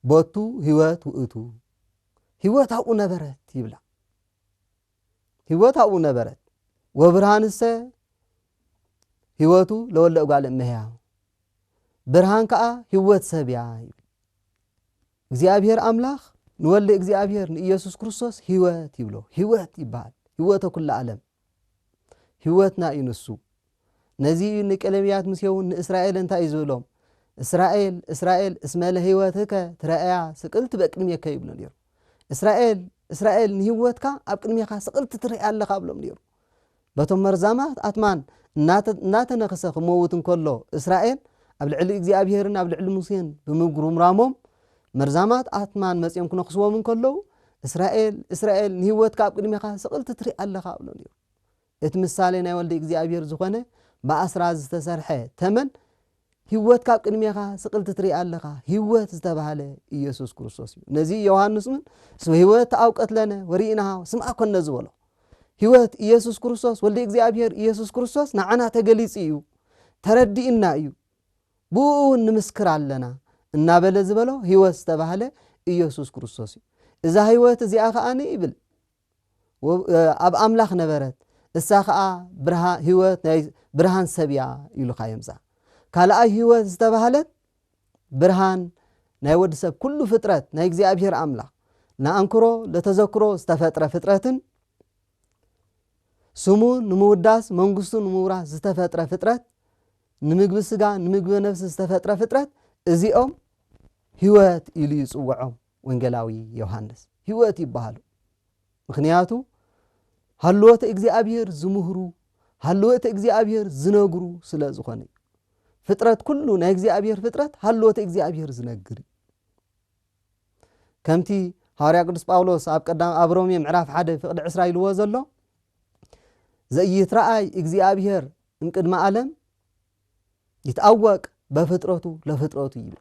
ቦቱ ህይወት ውእቱ ህይወት ኣብኡ ነበረት ይብላ ህይወት ኣብኡ ነበረት ወብርሃንሰ ህይወቱ ለወለ እጓል እመያ ብርሃን ከዓ ህይወት ሰብያ ይብል እግዚኣብሔር ኣምላኽ ንወልድ እግዚኣብሔር ንኢየሱስ ክርስቶስ ህይወት ይብሎ ህይወት ይበሃል ህይወተ ኩሉ ዓለም ህይወትና እዩ ንሱ። ነዚ እዩ ንቀለምያት ምስዮን ንእስራኤል እንታይ እዩ ዝብሎም እስራኤል እስራኤል እስመ ለህይወትከ ትረእያ ስቅልቲ በቅድሜከ ይብሎ ነይሩ። እስራኤል እስራኤል ንህይወትካ ኣብ ቅድሜኻ ስቅልቲ ትርእ ኣለኻ ብሎም ነይሩ። በቶም መርዛማት ኣትማን እናተነኽሰ ክመውት እንከሎ እስራኤል ኣብ ልዕሊ እግዚኣብሄርን ኣብ ልዕሊ ሙሴን ብምጉርምራሞም መርዛማት ኣትማን መጺኦም ክነኽስዎም እንከለዉ፣ እስራኤል፣ እስራኤል፣ ንህይወትካ ኣብ ቅድሜኻ ስቕልቲ ትርኢ ኣለኻ እብሎ ነይሩ። እቲ ምሳሌ ናይ ወልደ እግዚኣብሄር ዝዀነ ብኣስራዚ ዝተሰርሐ ተመን፣ ህይወትካ ኣብ ቅድሜኻ ስቕልቲ ትርኢ ኣለኻ፣ ህይወት ዝተባህለ ኢየሱስ ክርስቶስ እዩ። ነዚ ዮሃንስ እውን እስመ ህይወት ኣብ ቀትለነ ወርኢናሃው ስምዓ ኰነ ዝበሎ ህይወት ኢየሱስ ክርስቶስ ወልደ እግዚኣብሄር ኢየሱስ ክርስቶስ ንዓና ተገሊጹ እዩ፣ ተረዲእና እዩ። ብእኡ እውን ንምስክር ኣለና እናበለ ዝበሎ ህይወት ዝተባህለ ኢየሱስ ክርስቶስ እዩ። እዛ ህይወት እዚኣ ከኣ ይብል ኣብ ኣምላኽ ነበረት እሳ ከኣ ህይወት ናይ ብርሃን ሰብ እያ ኢሉካ እዮም እዛ ካልኣይ ህይወት ዝተባህለት ብርሃን ናይ ወዲ ሰብ ኩሉ ፍጥረት ናይ እግዚኣብሔር ኣምላኽ ንኣንክሮ ለተዘክሮ ዝተፈጥረ ፍጥረትን ስሙ ንምውዳስ መንግስቱ ንምውራስ ዝተፈጥረ ፍጥረት ንምግቢ ስጋ ንምግቢ ነፍሲ ዝተፈጥረ ፍጥረት እዚኦም ህይወት ኢሉ እዩ ዝጽውዖም ወንጌላዊ ዮሃንስ ህይወት ይበሃሉ ምክንያቱ ሃልዎተ እግዚኣብሔር ዝምህሩ ሃልዎተ እግዚኣብሔር ዝነግሩ ስለ ዝኾነ እዩ ፍጥረት ኩሉ ናይ እግዚኣብሔር ፍጥረት ሃልዎተ እግዚኣብሔር ዝነግር እዩ ከምቲ ሃዋርያ ቅዱስ ጳውሎስ ኣብ ቀዳም ኣብ ሮሜ ምዕራፍ ሓደ ፍቅዲ ዕስራ ኢልዎ ዘሎ ዘይትረኣይ እግዚኣብሔር እምቅድመ ዓለም ይትኣወቅ በፍጥረቱ ለፍጥረቱ ይብል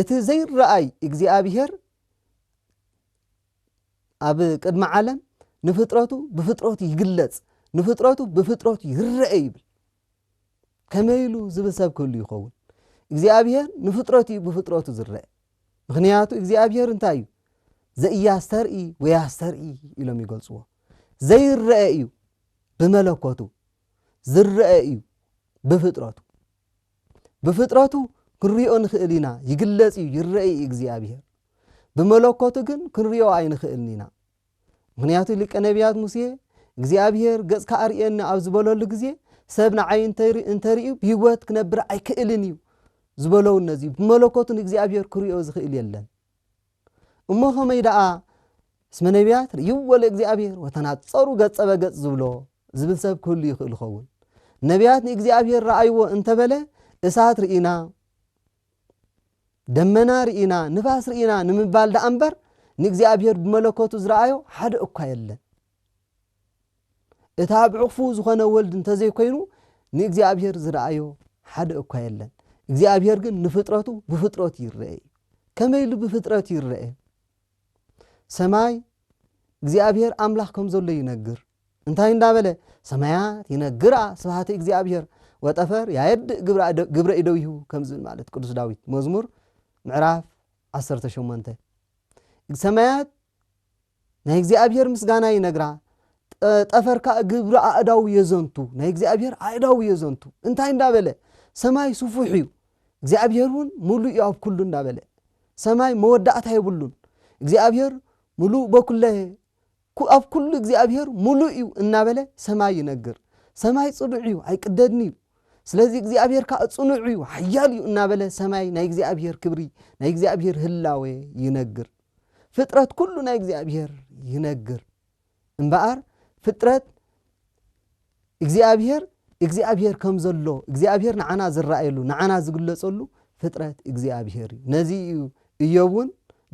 እቲ ዘይረኣይ እግዚኣብሄር ኣብ ቅድሚ ዓለም ንፍጥረቱ ብፍጥረቱ ይግለጽ ንፍጥረቱ ብፍጥረቱ ይረአ ይብል ከመይ ኢሉ ዝብል ሰብ ክህሉ ይኸውን እግዚኣብሄር ንፍጥረቱ እዩ ብፍጥረቱ ዝረአ ምክንያቱ እግዚኣብሄር እንታይ እዩ ዘእያስተርኢ ወያስተርኢ ኢሎም ይገልጽዎ ዘይረአ እዩ ብመለኮቱ ዝረኣ እዩ ብፍጥረቱ ብፍጥረቱ ክንሪኦ ንኽእል ኢና ይግለጽ እዩ ይረአ እዩ እግዚኣብሔር ብመለኮቱ ግን ክንሪኦ ኣይንኽእልን ኢና ምክንያቱ ሊቀ ነቢያት ሙሴ እግዚኣብሔር ገጽካ ኣርእየኒ ኣብ ዝበለሉ ግዜ ሰብ ንዓይ እንተርእዩ ብህይወት ክነብር ኣይክእልን እዩ ዝበለውን ነዚ ብመለኮቱን እግዚኣብሔር ክሪኦ ዝኽእል የለን እሞ ከመይ ደኣ እስመ ነቢያት ርእይዎ ለእግዚኣብሔር ወተናጸሩ ገጸ በገጽ ዝብሎ ዝብል ሰብ ክህሉ ይኽእል ይኸውን። ነቢያት ንእግዚኣብሔር ረኣይዎ እንተበለ እሳት ርኢና ደመና ርኢና ንፋስ ርኢና ንምባል ደኣ እምበር ንእግዚኣብሔር ብመለኮቱ ዝረኣዮ ሓደ እኳ የለን። እቲ ኣብ ዕቕፉ ዝኾነ ወልድ እንተዘይኮይኑ ንእግዚኣብሔር ዝረኣዮ ሓደ እኳ የለን። እግዚኣብሔር ግን ንፍጥረቱ ብፍጥረቱ ይረአ እዩ። ከመይ ኢሉ ብፍጥረቱ ይረአ? ሰማይ እግዚኣብሔር ኣምላኽ ከም ዘሎ ይነግር። እንታይ እንዳበለ ሰማያት ይነግራ ስብሃተ እግዚኣብሔር ወጠፈር ያየድእ ግብረ ኢደዊሁ ከም ዝብል ማለት ቅዱስ ዳዊት መዝሙር ምዕራፍ 18 ሰማያት ናይ እግዚኣብሔር ምስጋና ይነግራ ጠፈር ከኣ ግብሪ ኣእዳው የዘንቱ ናይ እግዚኣብሔር ኣእዳው የዘንቱ እንታይ እንዳበለ ሰማይ ስፉሕ እዩ እግዚኣብሔር እውን ሙሉእ እዩ ኣብ ኩሉ እንዳበለ ሰማይ መወዳእታ የብሉን እግዚኣብሔር ሙሉእ በኩለ ኣብ ኩሉ እግዚኣብሔር ሙሉእ እዩ እናበለ ሰማይ ይነግር ሰማይ ፅኑዕ እዩ ኣይቅደድን እዩ ስለዚ እግዚኣብሔር ከዓ ፅኑዕ እዩ ሓያል እዩ እናበለ ሰማይ ናይ እግዚኣብሔር ክብሪ ናይ እግዚኣብሔር ህላወ ይነግር ፍጥረት ኩሉ ናይ እግዚኣብሔር ይነግር እምበኣር ፍጥረት እግዚኣብሔር እግዚኣብሔር ከም ዘሎ እግዚኣብሔር ንዓና ዝረኣየሉ ንዓና ዝግለጸሉ ፍጥረት እግዚኣብሔር እዩ ነዚ እዩ እዮብ እውን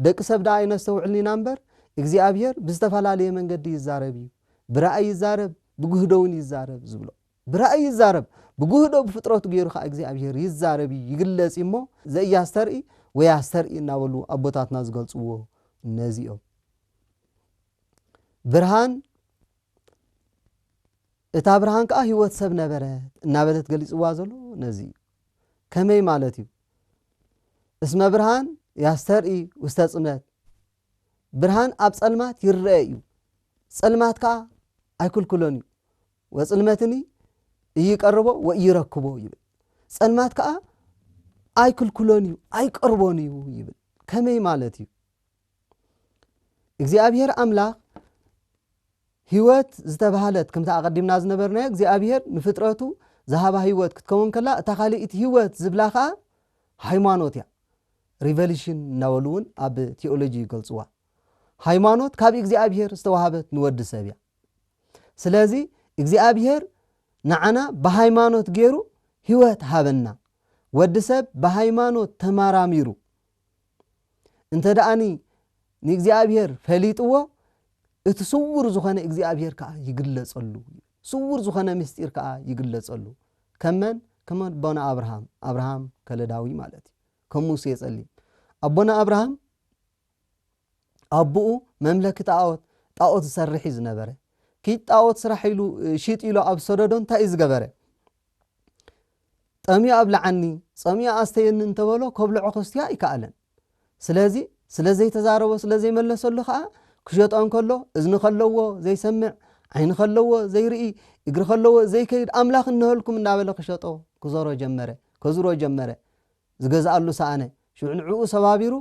ደቂ ሰብ ደኣ ኣይነስተውዕልን ኢና እምበር እግዚኣብሔር ብዝተፈላለየ መንገዲ ይዛረብ እዩ ብራእይ ይዛረብ ብግህዶ እውን ይዛረብ ዝብሎ ብራእይ ይዛረብ፣ ብጉህዶ ብፍጥረቱ ገይሩ ከኣ እግዚኣብሄር ይዛረብ እዩ፣ ይግለጽ እዩ እሞ ዘኢያስተርኢ ወያስተርኢ እናበሉ ኣቦታትና ዝገልጽዎ ነዚ እዮም። ብርሃን እታ ብርሃን ከኣ ህይወት ሰብ ነበረት እናበለት ገሊጽዋ ዘሎ ነዚ እዩ። ከመይ ማለት እዩ? እስመ ብርሃን ያስተርኢ ውስተ ጽልመት ብርሃን ኣብ ጸልማት ይረኤ እዩ፣ ጸልማት ከኣ ኣይክልክሎን እዩ። ወጽልመትኒ እይቀርቦ ወእይረክቦ ይብል። ጸልማት ከኣ ኣይክልክሎን እዩ፣ ኣይቀርቦን እዩ ይብል። ከመይ ማለት እዩ? እግዚኣብሔር ኣምላኽ ህይወት ዝተባህለት ከምቲ ኣቐዲምና ዝነበርናዮ እግዚኣብሔር ንፍጥረቱ ዝሃባ ህይወት ክትከውን ከላ እታ ካልእቲ ህይወት ዝብላ ከዓ ሃይማኖት እያ። ሪቨሊሽን እናበሉ እውን ኣብ ቲኦሎጂ ይገልፅዋ ሃይማኖት ካብ እግዚኣብሄር ዝተዋሃበት ንወዲ ሰብ እያ ስለዚ እግዚኣብሄር ንዓና ብሃይማኖት ገይሩ ህይወት ሃበና ወዲ ሰብ ብሃይማኖት ተመራሚሩ እንተ ደኣኒ ንእግዚኣብሄር ፈሊጥዎ እቲ ስውር ዝኾነ እግዚኣብሄር ከዓ ይግለፀሉ ስውር ዝኾነ ምስጢር ከዓ ይግለፀሉ ከመን ከመ ቦና ኣብርሃም ኣብርሃም ከለዳዊ ማለት እዩ ከም ሙሴ የጸሊ ኣቦና ኣብርሃም ኣቡኡ መምለኪ ጣኦት ጣኦት ዝሰርሕ እዩ ዝነበረ ኪድ ጣኦት ስራሕ ኢሉ ሽጥ ኢሉ ኣብ ሰደዶ እንታይ እዩ ዝገበረ ጠምዮ ኣብልዓኒ ጸምዮ ኣስተየኒ እንተበሎ ከብልዖ ከስትዮ ኣይከኣለን ስለዚ ስለ ዘይተዛረቦ ስለ ዘይመለሰሉ ከዓ ክሸጦ እንከሎ እዝኒ ከለዎ ዘይሰምዕ ዓይኒ ከለዎ ዘይርኢ እግሪ ከለዎ ዘይከይድ ኣምላኽ እነሀልኩም እናበለ ክሸጦ ክዘሮ ጀመረ ከዝሮ ጀመረ ዝገዝኣሉ ሰኣነ። ሽዑ ንዕኡ ሰባቢሩ፣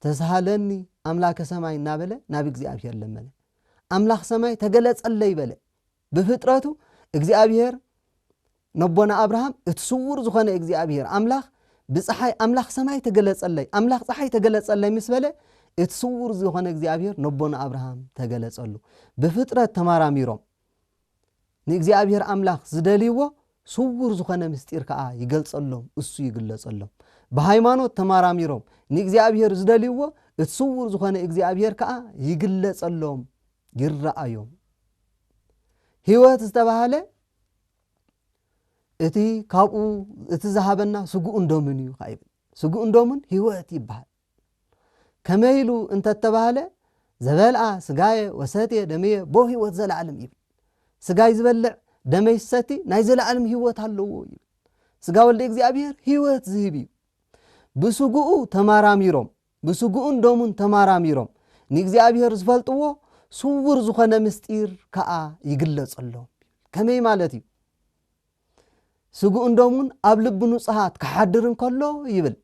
ተስሃለኒ ኣምላከ ሰማይ እናበለ ናብ እግዚኣብሄር ለመነ። ኣምላኽ ሰማይ ተገለጸለይ በለ። ብፍጥረቱ እግዚኣብሄር ነቦና ኣብርሃም እቲ ስውር ዝኾነ እግዚኣብሄር ኣምላኽ ብፀሓይ ኣምላኽ ሰማይ ተገለጸለይ ኣምላኽ ፀሓይ ተገለጸለይ ምስ በለ እቲ ስውር ዝኾነ እግዚኣብሄር ነቦና ኣብርሃም ተገለጸሉ። ብፍጥረት ተማራሚሮም ንእግዚኣብሔር ኣምላኽ ዝደልይዎ ስውር ዝኾነ ምስጢር ከዓ ይገልጸሎም፣ እሱ ይግለጸሎም። ብሃይማኖት ተማራሚሮም ንእግዚኣብሔር ዝደልይዎ እቲ ስውር ዝኾነ እግዚኣብሔር ከዓ ይግለጸሎም፣ ይረኣዮም። ህይወት ዝተባህለ እቲ ካብኡ እቲ ዝሃበና ስግኡን ደሙን እዩ ከዓ ይብል። ስግኡን ደሙን ህይወት ይበሃል። ከመይ ኢሉ እንተተባህለ ዘበልኣ ስጋየ ወሰትየ ደምየ ቦ ህይወት ዘለዓለም ይብል ስጋይ ዝበልዕ ደመይ ዝሰቲ ናይ ዘለዓለም ህይወት ኣለዎ ይብል ስጋ ወልደ እግዚኣብሔር ህይወት ዝህብ እዩ ብስጉኡ ተማራሚሮም ብስጉኡን ደሙን ተማራሚሮም ንእግዚኣብሔር ዝፈልጥዎ ስውር ዝኾነ ምስጢር ከዓ ይግለጸሎም ከመይ ማለት እዩ ስጉኡን ደሙን ኣብ ልቢ ንጹሃት ክሓድር እንከሎ ይብል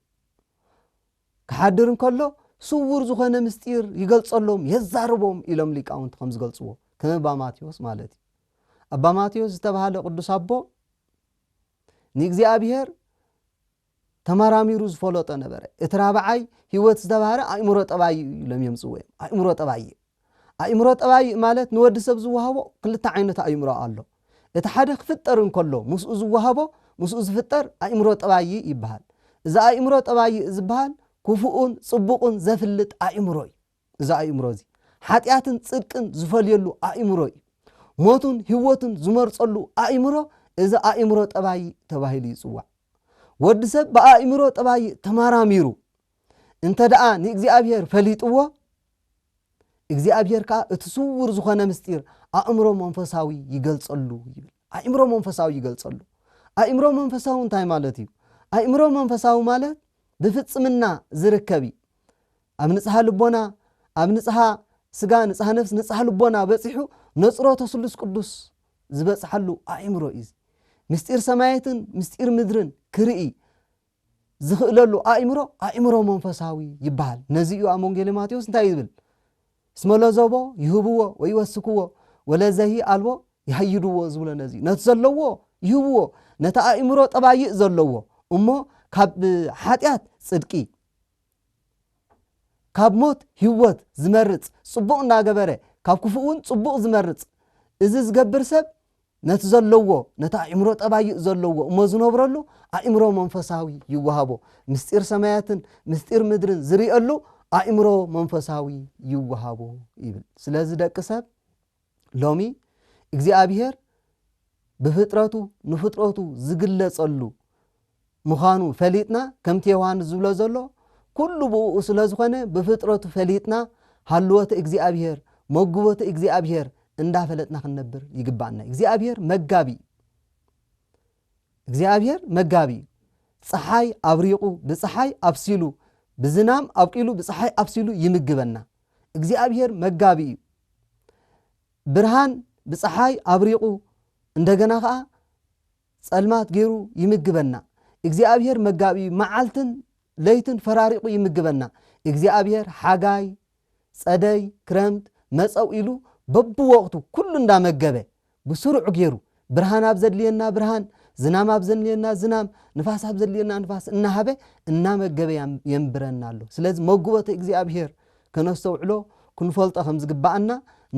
ክሓድር እንከሎ ስውር ዝኾነ ምስጢር ይገልጸሎም የዛርቦም ኢሎም ሊቃውንቲ ከም ዝገልጽዎ ከም ኣባ ማቴዎስ ማለት እዩ ኣባ ማቴዎስ ዝተባሃለ ቅዱስ ኣቦ ንእግዚኣብሄር ተመራሚሩ ዝፈለጦ ነበረ እቲ ራብዓይ ህይወት ዝተባህረ ኣእምሮ ጠባይ እዩ ኢሎም እዮም ጽዎ እዮም ኣእምሮ ጠባይ እዩ ኣእምሮ ጠባይ ማለት ንወዲ ሰብ ዝወሃቦ ክልተ ዓይነት ኣእምሮ ኣሎ። እቲ ሓደ ክፍጠር እንከሎ ምስኡ ዝወሃቦ ምስኡ ዝፍጠር ኣእምሮ ጠባይ ይበሃል። እዚ ኣእምሮ ጠባይ ዝበሃል ክፉእን ጽቡቕን ዘፍልጥ ኣእምሮ እዩ። እዚ ኣእምሮ እዚ ሓጢኣትን ጽድቅን ዝፈልየሉ ኣእምሮ እዩ። ሞቱን ህይወቱን ዝመርጸሉ ኣእምሮ እዚ ኣእምሮ ጠባይ ተባሂሉ ይጽዋዕ። ወዲ ሰብ ብኣእምሮ ጠባይ ተመራሚሩ እንተ ደኣ ንእግዚኣብሄር ፈሊጥዎ፣ እግዚኣብሄር ከኣ እቲ ስዉር ዝኾነ ምስጢር ኣእምሮ መንፈሳዊ ይገልጸሉ ይብል። ኣእምሮ መንፈሳዊ ይገልጸሉ። ኣእምሮ መንፈሳዊ እንታይ ማለት እዩ? ኣእምሮ መንፈሳዊ ማለት ብፍጽምና ዝርከብ እዩ። ኣብ ንጽሃ ልቦና፣ ኣብ ንጽሃ ስጋ፣ ንጽሃ ነፍሲ፣ ንጽሃ ልቦና በጺሑ ነጽሮ ተስሉስ ቅዱስ ዝበጽሓሉ ኣእምሮ እዩ። ምስጢር ሰማያትን ምስጢር ምድርን ክርኢ ዚኽእለሉ ኣእምሮ፣ ኣእምሮ መንፈሳዊ ይበሃል። ነዚ እዩ ኣብ ወንጌለ ማቴዎስ እንታይ እዩ ዝብል? እስመ ለዘቦ ይህብዎ ወይወስክዎ ወለዘሂ ኣልቦ ይሃይድዎ ዝብሎ ነዚ እዩ። ነቲ ዘለዎ ይህብዎ፣ ነቲ ኣእምሮ ጠባይእ ዘለዎ እሞ ካብ ሓጢኣት ጽድቂ፣ ካብ ሞት ሂወት ዝመርጽ ጽቡቕ እናገበረ ካብ ክፉእውን ጽቡቕ ዝመርጽ እዚ ዝገብር ሰብ ነቲ ዘለዎ ነቲ ኣእምሮ ጠባይኡ ዘለዎ እሞ ዝነብረሉ ኣእምሮ መንፈሳዊ ይወሃቦ ምስጢር ሰማያትን ምስጢር ምድርን ዝርእየሉ ኣእምሮ መንፈሳዊ ይወሃቦ ይብል ስለዚ ደቂ ሰብ ሎሚ እግዚኣብሄር ብፍጥረቱ ንፍጥረቱ ዝግለጸሉ ምዃኑ ፈሊጥና ከምቲ ዮሃንስ ዝብሎ ዘሎ ኩሉ ብእኡ ስለ ዝኾነ ብፍጥረቱ ፈሊጥና ሃልወት እግዚኣብሄር መግቦት እግዚኣብሄር እንዳፈለጥና ክንነብር ይግባኣና እግዚኣብሄር መጋቢ እዩ እግዚኣብሔር መጋቢ እዩ። ፀሓይ ኣብሪቑ ብፀሓይ ኣብሲሉ ብዝናም ኣብቂሉ ብፀሓይ ኣብሲሉ ይምግበና። እግዚኣብሔር መጋቢ እዩ። ብርሃን ብፀሓይ ኣብሪቑ እንደገና ከዓ ፀልማት ገይሩ ይምግበና። እግዚኣብሔር መጋቢ እዩ። መዓልትን ለይትን ፈራሪቑ ይምግበና። እግዚኣብሔር ሓጋይ፣ ፀደይ፣ ክረምት መፀው ኢሉ በብወቕቱ ኩሉ እንዳመገበ ብስሩዕ ገይሩ ብርሃን ኣብ ዘድልየና ብርሃን፣ ዝናም ኣብ ዘድልየና ዝናም፣ ንፋስ ኣብ ዘድልየና ንፋስ እናሃበ እናመገበ የንብረና ኣሎ። ስለዚ መጉቦቲ እግዚኣብሄር ከነስተውዕሎ ክንፈልጦ ከም ዝግብኣና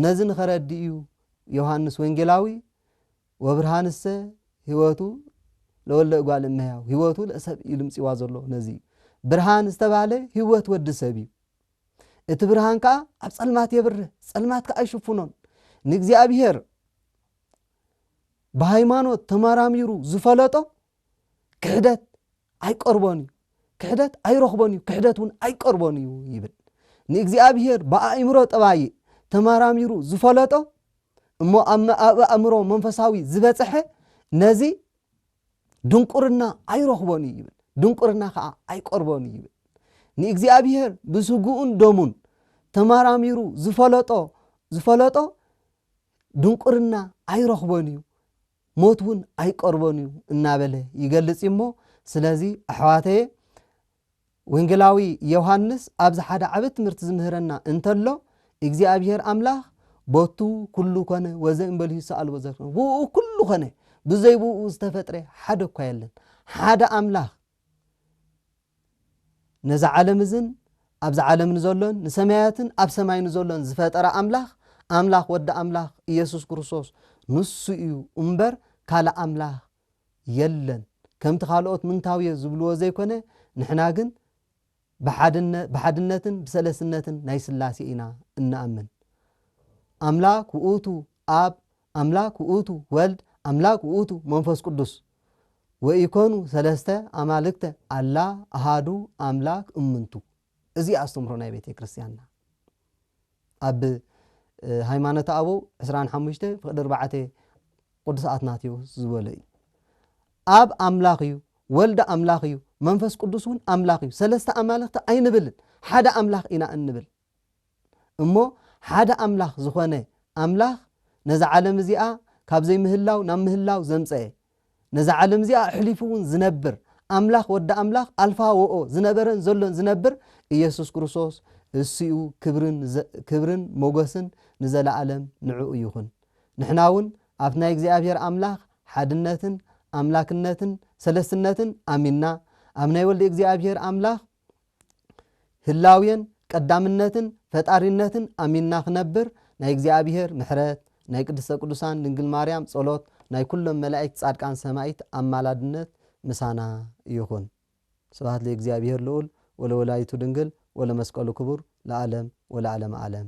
ነዚ ንኸረድእ እዩ ዮሃንስ ወንጌላዊ ወብርሃንሰ ህይወቱ ለወለ እጓል እመሕያው ህይወቱ ለሰብ እዩ ልምጺዋ ዘሎ ነዚ እዩ ብርሃን ዝተባህለ ህይወት ወዲ ሰብ እዩ። እቲ ብርሃን ከኣ ኣብ ጸልማት የብርህ፣ ጸልማት ከኣ ኣይሽፍኖን። ንእግዚኣብሄር ብሃይማኖት ተመራሚሩ ዝፈለጦ ክሕደት ኣይቀርቦን እዩ፣ ክሕደት ኣይረኽቦን እዩ፣ ክሕደት እውን ኣይቀርቦን እዩ ይብል። ንእግዚኣብሄር ብኣእምሮ ጠባይእ ተመራሚሩ ዝፈለጦ እሞ ኣብ ኣእምሮ መንፈሳዊ ዝበጽሐ ነዚ ድንቁርና ኣይረኽቦን እዩ ይብል ድንቁርና ከዓ ኣይቀርቦን እዩ ይብል ንእግዚኣብሔር ብስግኡን ደሙን ተመራሚሩ ዝፈለጦ ዝፈለጦ ድንቁርና ኣይረኽቦን እዩ ሞት እውን ኣይቀርቦን እዩ እናበለ ይገልፅ እሞ ስለዚ ኣሕዋተየ ወንጌላዊ ዮሃንስ ኣብዚ ሓደ ዓቢ ትምህርቲ ዝምህረና እንተሎ እግዚኣብሔር ኣምላኽ ቦቱ ኩሉ ኮነ ወዘእምበልዩ ሰኣልቦ ዘርክነ ብኡ ኩሉ ኮነ ብዘይ ብኡ ዝተፈጥረ ሓደ እኳ የለን ሓደ ኣምላኽ ነዚ ዓለም እዝን ኣብዚ ዓለም ንዘሎን ንሰማያትን ኣብ ሰማይ ንዘሎን ዝፈጠረ ኣምላኽ ኣምላኽ ወዲ ኣምላኽ ኢየሱስ ክርስቶስ ንሱ እዩ እምበር ካልእ ኣምላኽ የለን ከምቲ ካልኦት ምንታውዮ ዝብልዎ ዘይኮነ ንሕና ግን ብሓድነ ብሓድነትን ብሰለስነትን ናይ ስላሴ ኢና እንኣምን ኣምላክ ውእቱ ኣብ ኣምላክ ውእቱ ወልድ ኣምላክ ውእቱ መንፈስ ቅዱስ ወኢኮኑ ሰለስተ ኣማልክተ ኣላ ኣሃዱ ኣምላክ እምንቱ እዚ ኣስተምህሮ ናይ ቤተ ክርስትያንና ኣብ ሃይማኖተ ኣበው ዕስራን ሓሙሽተ ፍቅዲ ኣርባዕተ ቅዱስ ኣትናቴዎስ ዝበሎ እዩ ኣብ ኣምላኽ እዩ ወልዲ ኣምላኽ እዩ መንፈስ ቅዱስ እውን ኣምላኽ እዩ ሰለስተ ኣማልኽቲ ኣይንብልን ሓደ ኣምላኽ ኢና እንብል እሞ ሓደ ኣምላኽ ዝኾነ ኣምላኽ ነዚ ዓለም እዚኣ ካብ ዘይምህላው ናብ ምህላው ዘምፀአ ነዛ ዓለም እዚኣ ኣሕሊፉ እውን ዝነብር ኣምላኽ ወዲ ኣምላኽ ኣልፋ ወኦ ዝነበረን ዘሎን ዝነብር ኢየሱስ ክርስቶስ እሱኡ ክብርን ሞገስን ንዘለዓለም ንዕኡ ይኹን ንሕና እውን ኣብቲ ናይ እግዚኣብሔር ኣምላኽ ሓድነትን ኣምላክነትን ሰለስትነትን ኣሚንና ኣብ ናይ ወልድ እግዚኣብሔር ኣምላኽ ህላዌን ቀዳምነትን ፈጣሪነትን ኣሚንና ክነብር ናይ እግዚኣብሔር ምሕረት ናይ ቅድስተ ቅዱሳን ድንግል ማርያም ጸሎት ናይ ኩሎም መላእክት ጻድቃን ሰማይት ኣማላድነት ምሳና ይኹን ስብሐት ለእግዚኣብሔር ልዑል ወለወላዲቱ ድንግል ወለመስቀሉ ክቡር ለዓለም ወለዓለመ ዓለም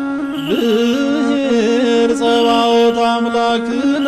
ብሔር ጸባኦት ኣምላክነ